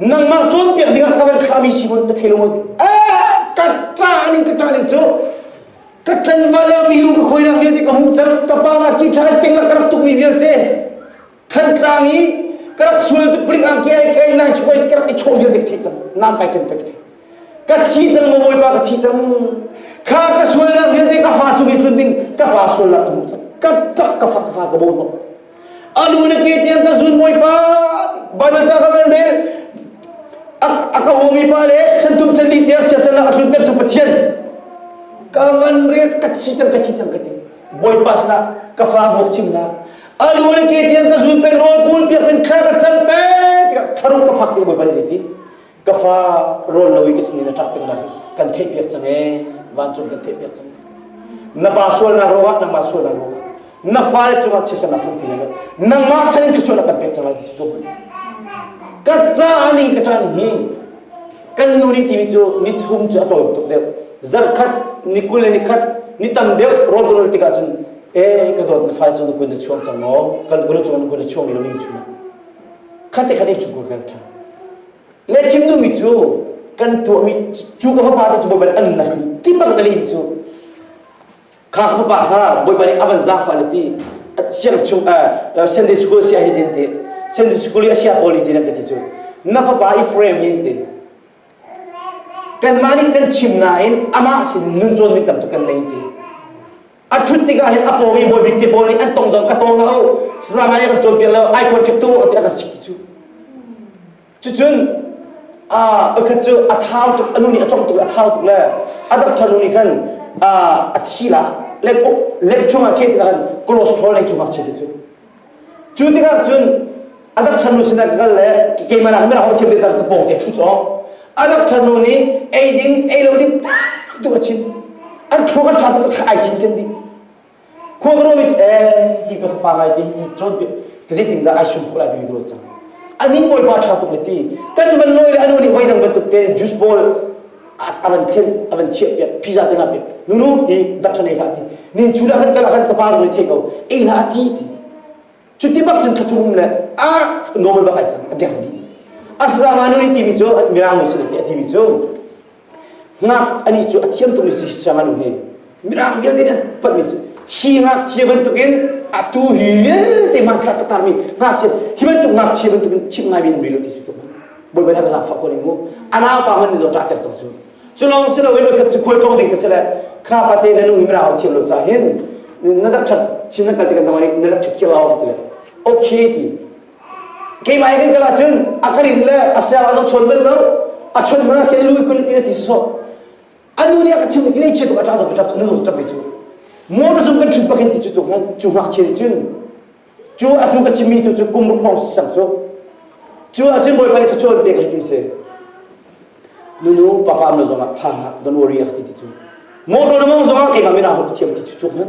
nangmah cawnpiak dingah ka van thlahmi si maw na thei lo maw ka ṭaning ka ṭaning cu ka tlanwa le mi lu ka khawinak vialte ka hmuh cang ka pa la ki ṭha teng la ka rak tukmi vialte thantlang i ka rak sual tu pling ang ke ke nang chukoi ka rak i chawh vialte ka thei cang nam kai ken ka thei ka thi cang maw bawipa ka thi cang kha ka sualnak vialte ka fa cung i tlun ding ka pa sual la ka hmuh cang ka tak ka fa ka fa ka bo a lu le ke tiang ka zun bawi pa bana ca ka kan re a ka humi pa le chantum chanli tiang chiasan a hlun tertu pathian ka kan re ka thi chang ka thi chang ka ti bawi pa sana ka fa vok chimna a lu le ke tiang ka zun pek rol kul piak in kha ka chang pe tiang tharum ka phak te bawi pa ni ti ka fa rawl lo i ka sinin a ṭah pengnak kan theihpiak cang ee vancung kan theihpiak cang na pa sualnak ruangah nangmah sualnak ruangah na fale cungah thisen a phun ti lai lo nangmah chan in thluachuah na kan pek cang lai ti tu ka ca nih ka ṭan hi kan nu nih timi cu ni thum cu a tawim tuk deuh zarh khat ni kul le ni khat ni tam deuh rawl rawl tikah cun e ka dawt na fale cu na kun na chuang cang maw kan kun na chuang na kun na chuang lo min chunga Khatte khat in chungkur kan ṭha. Le chim duhmi cu kan tuahmi cu ka fapa te cu bawipa nih an nak i kipang ka leh cu kha ka fapa kha bawipa nih a van zafa le ti siang chung Sunday school sia hi din ti Sunday school i a sia poli ti nan ka ti cu na fapa i frame yin tin kanmah nih kan chim nain amah sin nun cawn mi tam tuk kan lei ti a ṭhut tikah hin a pawng i bawibik te pawl nih an tong zong ka tawng lo sazangai kan cawnpiak lo ai khon ṭhep tu ti an si cu cucun a pakhat cu a thau tuk a nu nih a cong tuk a thau tuk le a dang ṭhanu nih khan a thi la lek uk lek chungah ṭhe tikah khan cholesterol lei chungah ṭhe cu Cu tikah cun adakchannu sinah ka kal le keimah nak mirang a thiam te khan ka pawng te a thu cawk adakchannu nih ei ding ei lo ding tak tu a chim an thlu kan cha tu ka ai chin ken ding khua ka romi ce hi ka fapa ngai te hi cawn pe ka zeitin dah ai sum ko lai te ka cang anih bawipa tha tuk le ti kan man lawi le anu nih voi dang bantuk te juice bowl a van khen a van chiahpiak pizza te hlah pek nunu hi dak ṭhan ei hlah ti nin cu dah kan kal ah khan ka pa rawi thei ko ei hlah ti ti cu ti bak cun thlathurum le a normal bak ai cang a deng di a sazanga nu ni timi cu mirang nu si le a timi cu ngak ani cu a thiam tum ni si sanganu he Mirang vialte nih patmi hi ngakchia bantukin atu vialte manthlak ka tarmi ngakchia hi bantuk ngakchia bantukin chim ngai min rilo ti cu tuk bawi bai zang fa ko ning mu anau pa man lo ta ter chang chu chu long si lo ilo khat chu khol tong ding ka sele kha pa te nanu himra ho thiam lo cha hin na dak chak chin na ka ti ka namai na dak chak kira ho ti okay ti ke mai kan kala chun akarin le asya zo chon bel lo a chon mana ke lu kun ti ti so a nu nih a ka chimh i ngeihchiat bak a ṭang ṭap nan lung ṭap ve cu motor cung kan ṭhut pakin ti cu cu ngakchia nih cun cu a tu ka chimmi tu cu kum ruk hrawng sang cu cu ahcun bawipa nih thluachuah an pek hi ti si nunu papa na zongah tha don't worry a ti ti cu motor na mong zongah keimah mina ho ka thiam ti cu tu hman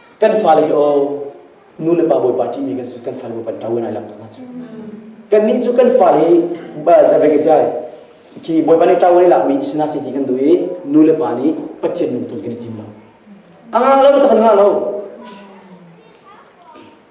kan fale hi aw nu le pa bawipa ṭihmi kan si kan fale bawipa ṭo lai lo kan nih cu kan fale hi khi bawipa nih ṭo lai lakmi sinah si ti kan duh i nu le pa nih pathian min tul kan i tim lo a ngah lo takhan ngah lo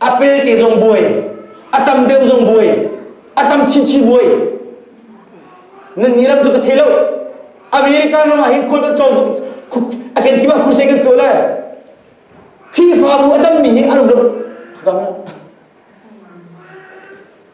a pe te zong buai a tam deuh zong buai a tam chinchin buai nan ni lam cu ka thei lo america ram ah hin khual kan tlawm a ken kima crusade kan tuah lai Khrihfabu a dammi nih an um lo khagam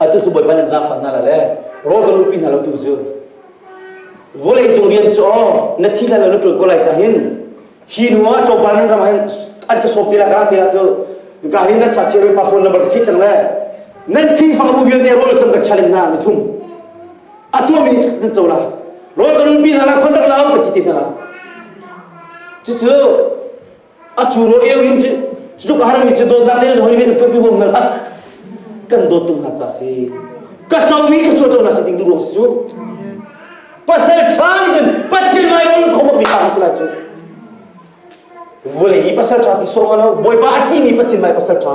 atu cu bawipa nih zaangfah hna le rawl kan lupi hna lo tu zun vawlei cung rian cu aw na thi la lo na ṭul ko lai cah hin hi nu ah tlawmpal nan ram hin an ka sawp te la ka te ah cu ka hin na cha chir pa phone number thi chang le nan khing fang ru vialte rawl sam ka challenge na mi thum atu mi nan cho la rawl kan lupi hna la khon rak la ka ti ti hna cucu a curo eu in cu tluk har mi cu dawtnak le hoi men to pi huam na la kan dawt tung hak ca si ka cho mi ka cho cho na si ding du ruang si cu pasal tha ni cun pathian mai kong khom mi ta si la cu vole i pasal tha ti song ala boy ba ati mi pathian mai pasal tha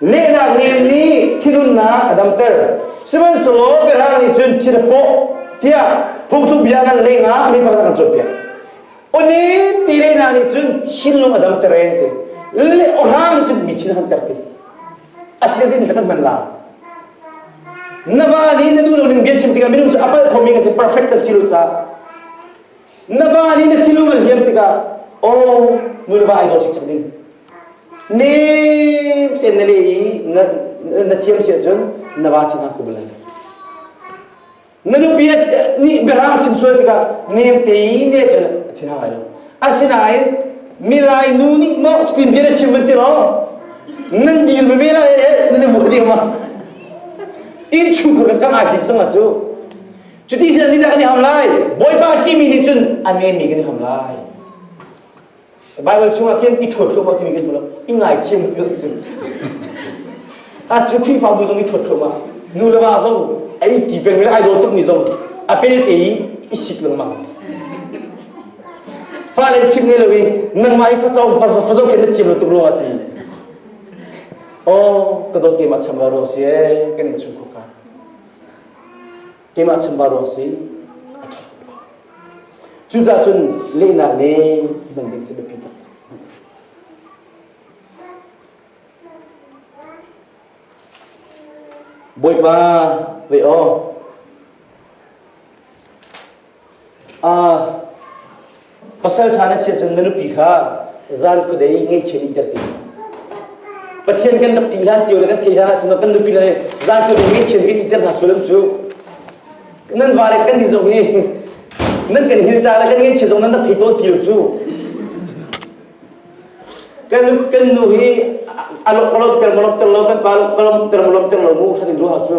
Lehnak ngel nih thilunnak a damter. Sihmanhsehlaw biahrang nih cun thil a hrawh tiah phungthluk bia kan lehnak mi pakhat kan cawnpiak. Oni ti lehnak nih cun thinlung a damter e ti. Le ohrang nih cun mi thin a hunter ti. Asiazin kan man la. Na va nih na nu le nin biachim tikah minung cu a palh khomi kan si perfect kan si lo caah Na pa nih na thinlung a liam tikah aw mulva ai dawt cang ding nem ten na le i na, na thiam si ahcun na va thin ah ku bal na nupi nih biarang chim sual tikah nem te i ne cun a thin hang ai lo asinain milai nu nih maw cutin bia na chim van tiraw nan dir veve la e nan mu diam ma in chungkur kan kang ai him sang a cu Cuti sin sinah kan i ham lai. Bawipa timi nih cun a nemi kan i ham lai. Baibal chungah khin i ṭhuat thluahmah timi kan hmu lo. I ngaithiam tu a si. A cu Khrihfabu zong i ṭhuat thluahmah. Nu le va zong a i ti pengmi le ai dawr tukmi zong a pelte i i sik lengmang. Fa le chim ngei lo i nangmah i facau fazau khin na thiam lo tuk ruangah ti. Oh, ka dawt keimah cham rua ruang si ee, kan in chung khawka. keimah chimva ruang si a ṭha Cucaah cun lehnak le hman ding si biapi tak. Bawipa, ve aw, Pasalṭha na si ahcun na nupi kha zan khuadei ngaihchia nihter ti. Pathian kan rak ṭih hlan cio le kan theih hlan ahcun kan nupi le zan khuadei ngaihchia kan nihter hna sual cu. Nan vale kan nih zong hi nan kan hilta le kan ngaihchia zong nan rak thei tawn ti lo cu. Kan kan nu hi alok alok ter molok ter lo kan pa ka lom ter molok ter lo mu that in ruha cu.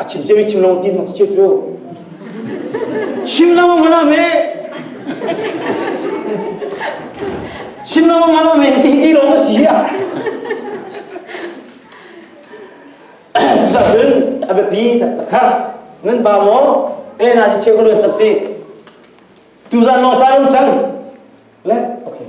A chim cia mi chim lo ti nak chia cu. Chim lo ma lo me. Chim lo ma lo me ti i lo ma si ya. Cucah cun a biapi tak takhat nan ba maw e na si cheu ko luan chak ti. Tu zan long cha lung chang. Let okay.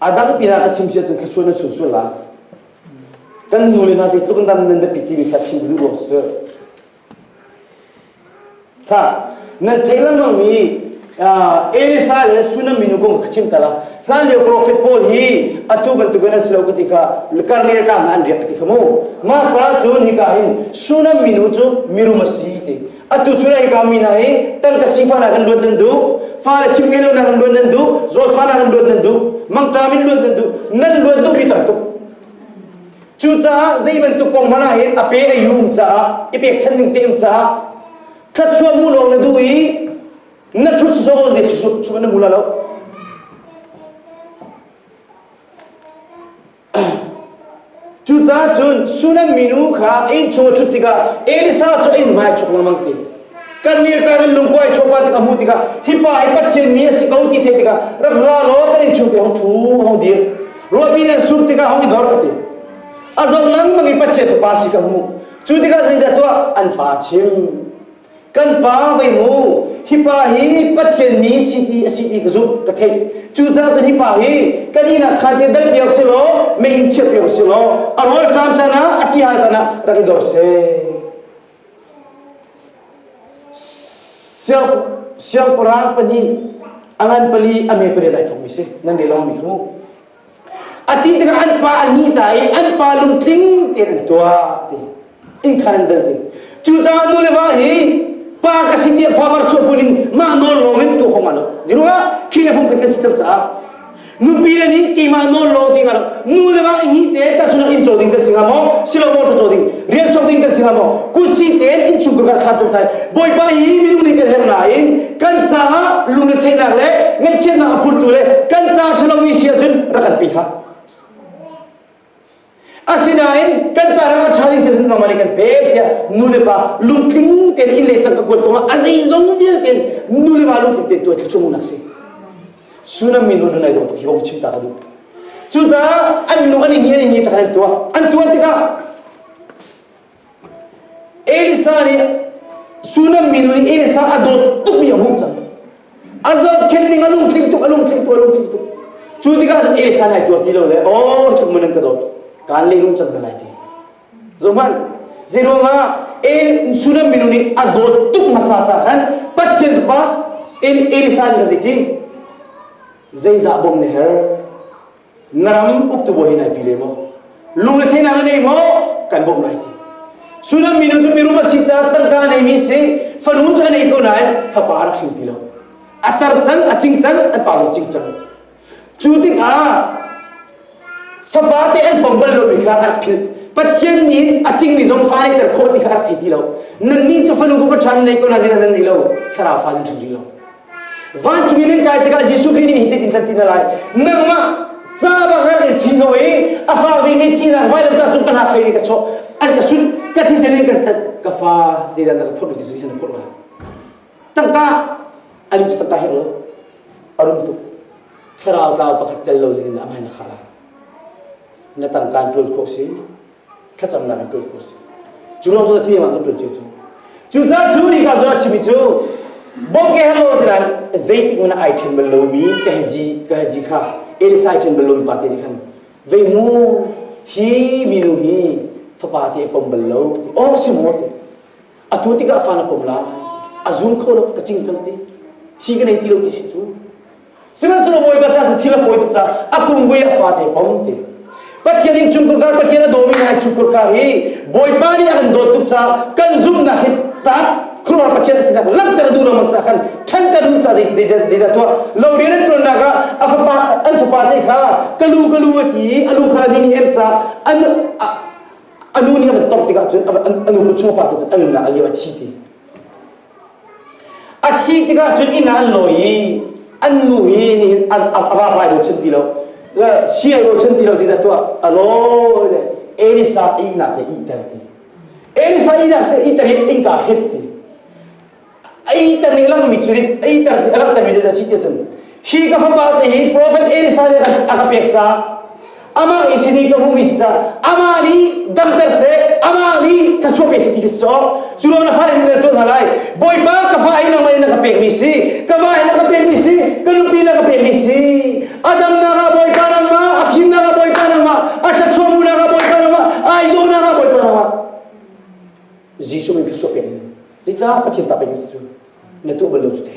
A dang pi ah a chim siah cun thluachuah nan sun sual la. Kan nu le hna zeitluk in dan nan biapi ti mi kha chim duh ko sir. Hla, nan theih lengmang mi Elisa le Sunam minu kong kha chim tala. Hlan lio profet Paul hi atu bantuk in an si lo ka ti kha karnel ka hna an riak ka ti kha mu. Mah ca cun hika in Sunam minu cu mirum a si ti. atu cu nan kami hna hi tangka sifang nak in luat nan duh fale chimke lo nak in luat nan duh zawlfa nak in luat nan duh mangṭam in luat nan duh nan luat duh mi tam tuk cucaah zei bantuk kong hmana hin a pe a yum caah i pek chan ning teim caah thatchuah mu lo na duh i na thut zo ze chu na mu la lo Cucaah cun Sunem minu kha innchung a ṭhut tikah Elisa cu a in vai chuk lengmang ti. Kan nih kan in lungkuai chopa tik a hmuh tikah hi pa hi Pathian mi a si ko ti theih tikah rak ra law kan in chuk tiang ṭhu hong dir. Ruahpi nan sur tikah hong i dor ka ti. A zoh lengmang i Pathian fapa si ka hmuh. Cu tikah zeidah tuah an fa a chim. Kan pa vei mu, hi pa hi Pathian mi si ti a si ti ka zumh ka theih. Cucaah cun hi pa hi kan ihnak khaan te dal piak sih law, mei in chiah piak sih law, a rawl ṭaam caan ah, a ti hal caan ah rak i dor seh. Siang, siangpahrang pahnih a ngan pali a me pariat ai thongmi si, nan le lawng mi khu. A ti tikah an pa a ni ta i an pa lungtling tein an tuah ti inn khan an dal ti cucaah nu le va hi pa ka si tiah phavar chuahpun in mah nawl lawng in tu hom alo diru ah khi le hum kan si cang caah nupi a nih keimah nawl lawng ding alo nu le va ni te ta chungah in caw ding kan si hnga maw silo motor caw ding rian sok ding kan si hnga maw kusi tein in chung ka thla cung tai bawipa hi minung nih kan herh nain kan caah lungretheihnak le ngaihchiatnak a phurtu le kan caah ṭhalomi si ahcun rak kalpi hlah. Asinain kan ca ram a ṭha ding siahcun nangmah nih kan pe tiah nulepa lungtling tein inn le tang ka kuat kongah a zeizong vialte nulepa lungtling tein tuah thluchung nak si. Sunam min hun nai dong hi bawk chim ta ka duh. Cucaah an lung an i hi an i hi ta kan tuah an tuah tikah Elisa nih Sunam minu nih Elisa a dawt tukmi a hmuh cang. A zohkhenh ning a lungtling tuk, a lungtling tuk, a lungtling tuk. Cu tikah cun Elisa nih ai tuar ti lo le, aw, tluk mun an ka dawt. Kaan leilung cang hna lai ti. Zoh hmanh, zeiruangah Sunam minu nih a dawt tuk hmasa caah khan Pathian fapa Elisa nih khan zeiti? Zeidah bawmh na herh? na ram uktu bawi hi nai pi le maw lungrethenak na ngei maw kan bawmh lai ti sunan mino cu mirum a si caah tangka a neimi si fanu cu a nei ko nain fapa rak hring ti lo a tar cang a cing cang an pa zong cing cang cu tikah fapa te an pom bal lomi kha a rak philh pathian nih a cingmi zong fa neiter khawh ti kha a rak thei ti lo nannih cu fanu ku paṭhan nei ko na zina nan nei lo thlarau fa nan hring hring lo Vancung i nan kai tikah Jesuh Khrih nih hi in hlan tina lai nangmah ca bang an kan thi no i a fa vemi thihnak vai lam ta cung ka hla fei in ka chawh an ka sut ka thi sen in kan that ka fa zeidan na ka phurh ti cu na phurh lai tangka ani cu tangka he ol a rum tuk thlarau tlau pakhat tel lo zin in amai na khara na tangkan tuan khawh si thlacamnak in tuah khawh a si. Cu lawng cu a thiam ah kan tuan chim cu. Cucaah cu ni ka zuwa chimi cu bawm ke he lo ti lai zeitik in ai ṭhen bal lomi ka he ji ka he ji kha Elisai ṭhen bal lomi pa te nih khan vei mu hi minu hi fapa te pom bal lo awm si mu te a tu tikah fa na pom lai a zum kho lo ka cing cang ti thi ka nei ti lo ti si cu Sihmanhsehlaw Bawipa ca cu thil a fawi tuk caah a kum ve a fate pong te. Pathian in cungkur kar Pathian a dawmi hna cungkur kar hi Bawipa nih a kan dawt tuk caah kan zumhnak hi tah khuaruah Pathian sinah langhter a duh lengmang caah khan ṭhanter duh caah zeidah tuah lo rian an ṭuannak ah a fapa an fapa te kha ka lu ka lu a ti i a lu kha a ni nih em caah an a nu nih a van tawmh tikah cun a nu kut chung a pa tu cun a nunnak a liam a thi ti. A thih tikah cun inn ah an lawi i an nu hi nihin an a vapai bochan ti lo sial bochan ti lo tiah tuah a rawi le Elisa ihnak te ihter ti Elisa ihnak te ihter hi innka hrit ti a ihter ni langmi cu rit a ihter ni a langhtermi zet a si ti cun Hi ka fapa te hi profet Elijah a ka pek ca amah isi ni ka hum isi ca amah nih damter se amah nih thachuak isi ti ka si cu lo na fa in na tuah hna lai bawipa ka fa in nangmah in na ka pek mi si ka va in na ka pek mi si ka nupi na ka pek mi si a damnak ah bawipa nangmah a fimnak ah bawipa nangmah a thachuamu nak ah bawipa nangmah a idawnak ah bawipa nangmah Jesuh in thachuak pek mi zeicah pathian ta pek mi si cu na tuah bal lo cu te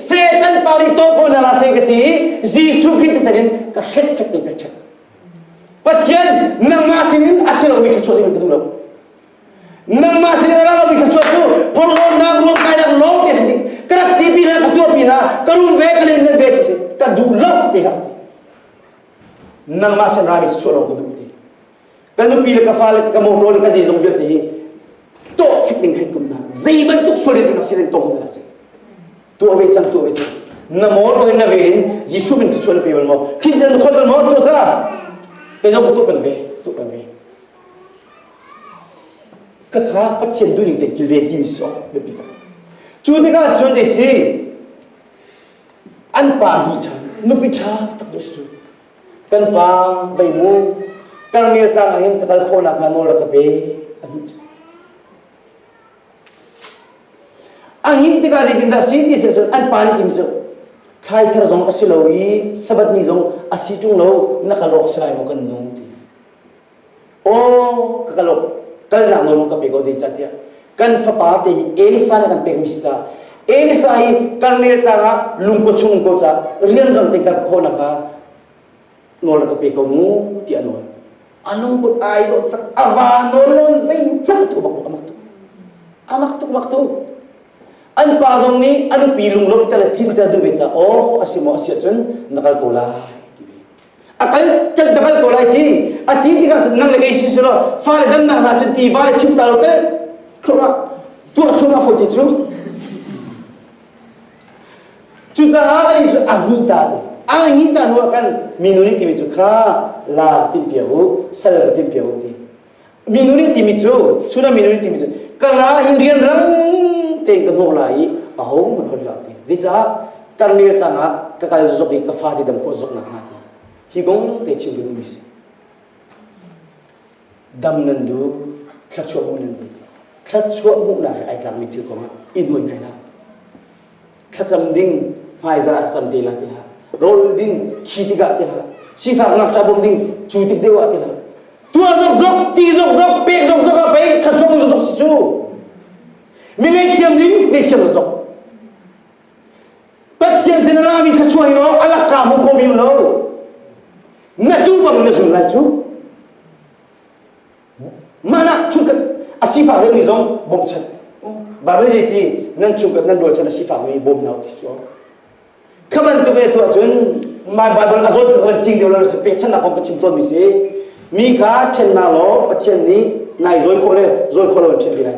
Satan pari to ko na la sai ka ti Jesuh Christ sin in ka hret fek tin ka hret Pathian nangmah sin in a si lo mi thluachuah sin in ka duh lo nangmah sin in a ra lo mi thluachuah cu porhlawtnak ruam kainak lawng te si ka rak ti pi na ka tuah pi na ka rum ve ka len ve ti si ka duh lo pe na ti nangmah sin ra mi thluachuah lo ka duh ti Ka nupi le ka fale ka motor le ka zeizong vialte hi tawh fik ning kan kum na zei bantuk sual in nak si rin tong na si tu ave cang tu ave cang na motor in na ve in Jesu min ti chuan pe wal mo kin jan khol wal mo to za te jong tu pan ve tu pan ve ka kha pathian du ning te kilven ti mi so be pita chu ni ka chuan je si an pa hi chan nupi tha tak do su kan pa vei mu Karngia tlang ah hin ka kal khawh nakhnga nawl rak ka pe a hmuh cu a hih tikah zeitindah si ti seh cun an pa nih tim cu thlai thar zong a si lo i sabat ni zong a si ṭung lo na kal awk a si lai maw kan nu ti Aw, ka kal kalnak nawl ka pek ko zeicah tiah kan fapa te hi Elisa le kan pekmi si caah Elisa hi karnel tlang ah lungko chung ko ca rianrang te ka khawnak kha nawl ka pe ko mu ti a nawl a lungput ai dawh tak ava nawl lawn zeihmanh tu bak amak tu amak tuk mak tu an pa zong nih an upi lunglawmh ter le thinter duh ve ca aw a si maw a si ahcun na kal ko lai a kal kan ka kal ko lai ti a ti tikah cun nang le kei sin selaw fale damnak hna cun ti vale chim ta lo te thluangah tuah thluangah fo ti cu cucaah lei cu a ngi ta ti a ngi ta hnuah khan minu nih timi cu kha la timpiak u sal ka timpiak u ti Minuni timi cu suna minuni timi cu ka ra hi rianrang tein ka hnawh lai i a ho man hoi la ti zeicah tarnel tlang ah ka kal zok i ka fa ti dam khawh zok nak hnga ti hi kong te chim ding mi si dam nan du thlachuah hmuh nan du thlachuah hmuh nak ai tlak mi thil kong ah i nuai ngai la thlacam ding hmaizah cam te la tiha rol ding khi tikah tiha sifak ngakṭa bom ding cu tik deuh ah tiha tuah zok zok ti zok zok pek zok zok ah pei thlachuang zok zok si cu mi ngaihthiam ding ngaihthiam zok pathian sin ra mi thlachuai lo alak ka mu ko mi lo na tu bang na zun lai cu Mana chungkhat asifak rengmi zong bawmchan. Barei ti nan chungkhat nan rual chan asifakmi bawm na ti suo. Kha bantuk e tu ahcun my Bible azol ka kan cing deuh lo se pechan na ka chim ton mi si mi kha chen na law pathian nih nai zoi kho le zoi kho lo chen ti lai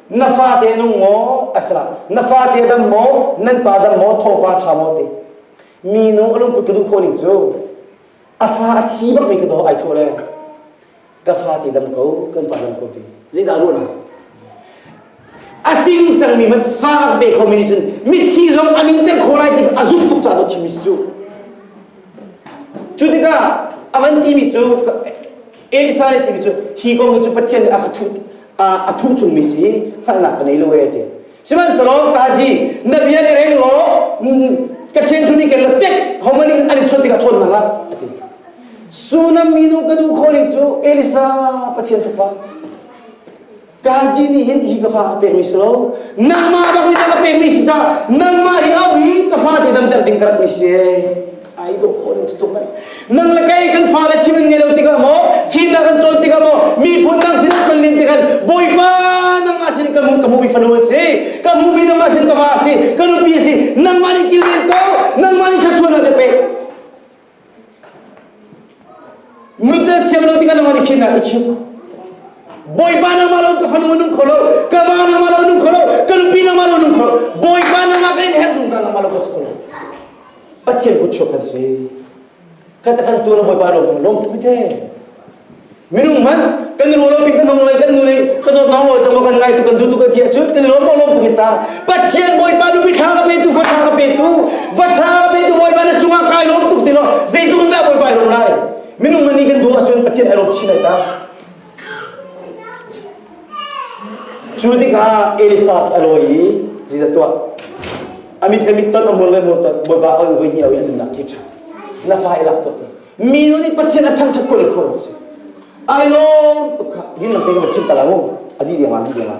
na fate nung maw a sila na fate dam maw nan pa dam maw thopa ṭha maw ti minu a lungput ka duh khawh ning cu a fa a thi bak mi ka daw ai thaw le ka fate dam ko kan pa dam ko ti zeidah ruahnak a cing cangmi man fa a pe khomi nih cun mithi zong a min ter khawh lai ti a zumh tuk caah chimmi cu cu tikah a van timi cu Elisa nih ting cu hi kong hi cu Pathian nih a ka thuh a thuh chungmi si hngalhnak ka nei lo e ti sihmanhsehlaw kaji na bia nih reng law ka chen thun nih keen la tek homan in an chawt tikah chawn hna la a ti sunam minu ka duh kho ning cu Elisa Pathian fapa Kaji nih hin hi ka fa a pekmi si lo. Nangmah bak nih ka pekmi si caah nangmah hi au hi ka fa ti damter ding ka ratmi si ee. Ai dawh khawh ning tuk mai. Nang le kei kan fa le chim an ngei lo tikah maw, thimnak an cawn tikah maw, miphun dang sinah kan lin tikhan Bawipa nangmah sin ka hmuh ka hmuhmi fanu an si, ka hmuhmi nangmah sin ka va a si, ka nupi a si, nangmah nih kilven ko, nangmah nih thluachuah na ka pek. Nutze thiam lo tikah nangmah nih fihnak i chim. Bawipa nangmah lo ka fanu nung kho lo, ka va nangmah lo nung kho lo, ka nupi nangmah lo nung kho lo, Bawipa nangmah ka in her zungzal nangmah lo ka si kho lo. Pathian kut chuak kan si. Kata kan tuan Bawipa ro lom mi te. minung hmanh kan ruah lo pin kan hong lai kan nu nih kan dawt nong lo chama kan ngai tu kan du tu kan tia chut kan lom lom tu mit ta pathian bawipa nu pi tha ka pe tu fa tha ka pe tu va tha ka pe tu bawipa na chunga kai lom tu si lo zeitlung dah bawipa i lom lai minung man nih kan du asun pathian ai lom chin ai ta cu tikah Elisa a loi i Jesus tuah amit le mit ton amur le mur ton bawipa au voi ni au in nak thi tha na fa i lak to Mi nu nih Pathian a thangṭhat ko leh kho a si. Ai lawm tuk kha. Ninglam tein kan chim ta la u. A dih dengah, a dih dengah.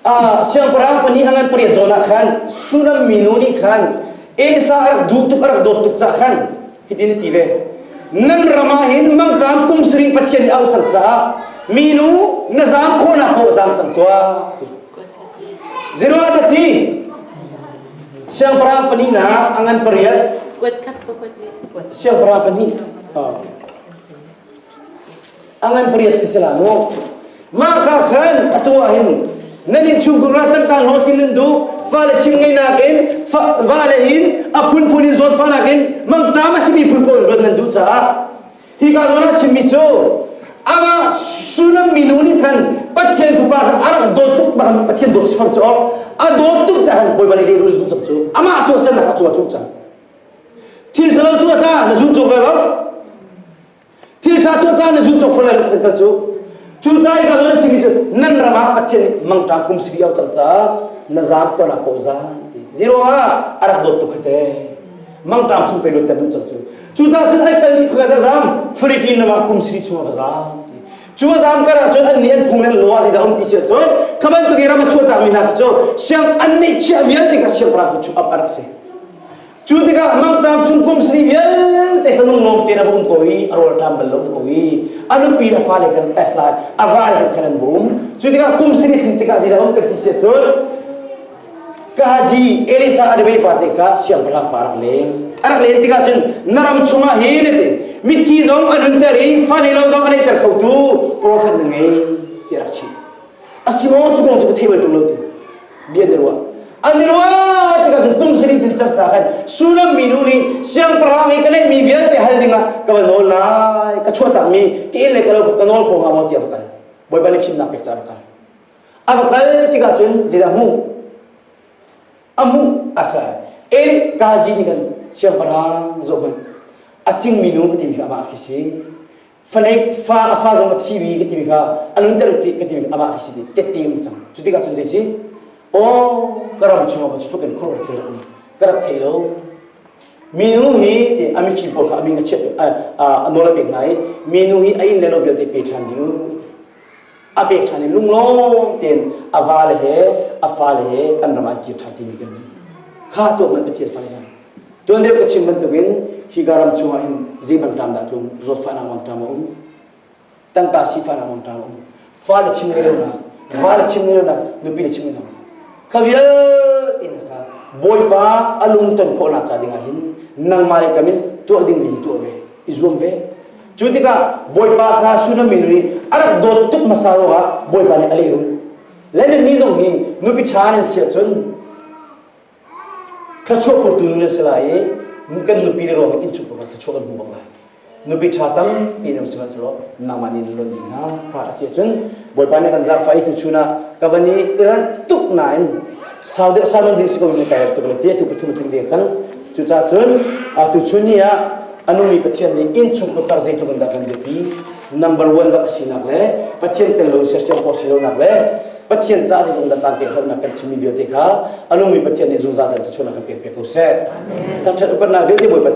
Ah, siangpahrang pahnih an an pariat zawn ah khan Shunam mi nu nih khan Esa a rak duh tuk a rak dawt tuk cah khan hitin a ti ve nan ram ah hin mangṭam kum saring Pathian nih a auh cang caah minu na zaam khawhnak paoh zaam cang tuah zeruah ti Siangpahrang pahnihnak a ngan pariat. Siangpahrang pahnih. A ngan pariat ka si la mu. Mah kha khan atu ah hin nan in chungkhar ah tangtang hlawtlin nan duh fale chim ngei nakin vale in a phunphun in zawt fa nakin mangta ma simi phun pawl in ruat nan duh caah Hika zawn ah chimmi cu amah Sunam minu nih khan Pathian fapa khan a rak dawt tuk bak in Pathian dawt sang cu a dawt tuk caah Bawi van i lehrul duh cang cu amah tu tuahsernak a cu a tluk cang thil salo tuah ca na zun cawk lai lo thil ṭha tuah ca na zun cawk far lai lo kan cu cu ca i ka zawn chimi cu nan ram ah Pathian nih mangṭa kum siri au cang ca na zam khuala paw zan ti zero ah a rak dawt tuk kha te mangṭam chung pe luat ter duh cang cu cu ta cun ai kalmi phakhat a zaam fritin lamah kum siri chung a va zaam ti cu a zaam kar ahcun annih an phung le an lo ah zeidah a um ti si ahcun kha bantuk i ram a chuahtakmi hna khi cu siang an neih chiah vialte kha siangpahrang cu chuh up a rak si cu tikah mangṭam chung kum siri vialte hmanung lawng te na va um ko i a rawlṭam bal lo um ko i a nupi le fale kan tes lai a vale khan an bum cu tikah kum siri thim tikah zeidah a um kan ti si ahcun Kahaji Elisa Adebe pa te kha siangpahrang pa rak leng a rak len tikah cun na ram chungah hi ne te mithi zong an hunter i fane lo zong an eiter khotu profet na ngei ti rak chim a si maw cu kong cu ka thei bal ṭung lo tu bia na ruah an ni ruah tikah cun tum siri cun carca khan sunam minu nih siangpahrang i ka neihmi vialte hal dingah ka va nawl lai ka chuahtakmi tiin le ka lo ka nawl kho hnga maw tiah ka kal bawipa nih fimnak pek ca ka kal A va kal tikah cun zeidah hmuh? A hmuh a ser. E kaji nih kan siangpahrang zoh hmanh a cingmi nu ka timi kha amah khi si faneik fa a fa zong a thimi ka timi kha a nunter ti ka timi kha amah khi si ti tette um cang cu tikah cun zei si aw ka ram chungah cu tlukin khuaruah thil um ka rak thei lo minu hi ti a mifim pawl kha a min a chiat a nawl a pek hna i minu hi a inn le lo vialte pe ṭhan ding a pek ṭhan i lunglawm tein a vale he a fale he kan ram ah kir ṭhan timi kan kha tuak man Pathian fale nan tuan deuh ka chim bantukin hi ka ram chungah hin zeiban ram dah tlung zawtfahnak mong ṭam a um tangka sifahnak mong ṭam a um fale chim ngei lonak vale chim ngei lonak nupi le chim ngei lonak kha vialte in kha bawipa a lung ton khawhnak ca dingah hin nangmah le kamin tuah ding ding tuah ve i zuam ve Cu tikah Bawipa hla Sunami nih a rak dawt tuk hmasa ruangah Bawipa nih a lehrulh. Lenin mi zong hi nupi ṭha nan si ahcun thluachuah phurtu nu nan si lai i kan nupi le ruangin innchung pangah thluachuah kan hmu bang lai. Nupi ṭha tampi nan si hmanhsehlaw nangmah nih nan luan ding hna. Fa a si ahcun Bawipa nih kan zaangfah i tuchun ah ka van i iran tuk nain sau deuh sau nan ding si ko in kai tuk ne ti tu pathum tling ding cang cucah cun tuchun ni ah a nungmi Pathian nih inn chung putar zeitluk in dah kan biapi number one rak a sinak le Pathian tel lo sersiam ko si lonak le Pathian ca zeitluk in dah caan pek hlatnak kan chimmi vialte kha a nungmi Pathian nih zungzal tan tuchun ah kan pek pek ko seh. Thangṭhat upatnak vialte Bawipa